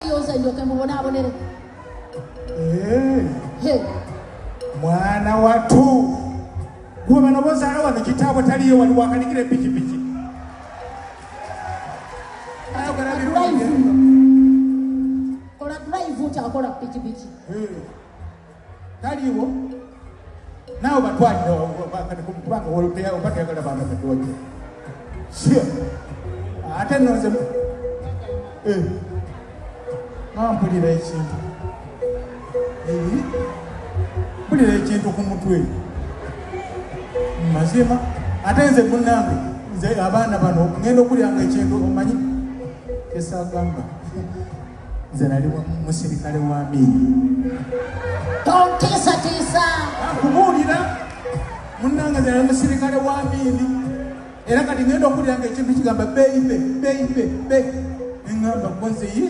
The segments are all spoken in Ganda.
yoza njoke mubonaabonere eh. mwana watu gwe bano bozaala wano kitaabwe taliyo wali wakanikira epikipiki kola drive kyakola pikipiki eh. taliwo nawe batwalira kubanga woluteya oba teyagala baana batoje sio ate noze eh. mampulira ekintu eh. mpulira ekintu ku mutwe mazima ate nze munange nze abaana bano ngenda okulyanga ekintu omanyi kesagamba nze nali musirikale wa miini tontiisatiisa akubuulira munnanga nze nali musirikale wa miini era kati ngenda okuwulira nga ekintu kigamba beyibe beyibe be neŋamba gwozeyi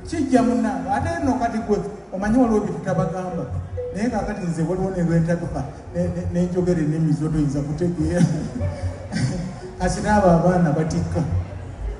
kijja munnanga ate no kati gwe omanyi waliwo byetutabagamba naye kakati nze waliwo nelwentatuka nenjogera enemizo toyinza kutegeera kasinaabo abaana batikka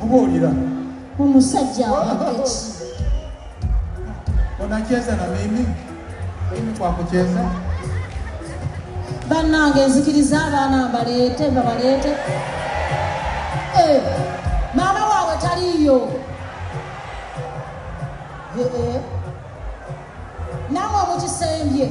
kubuulira omusajja awaddeki onacheza na mimi mimi kwa kucheza bannange nzikiriza abaana mbaleete babaleete eh, maama waabwe taliiyo eh, eh. namwe mukisembye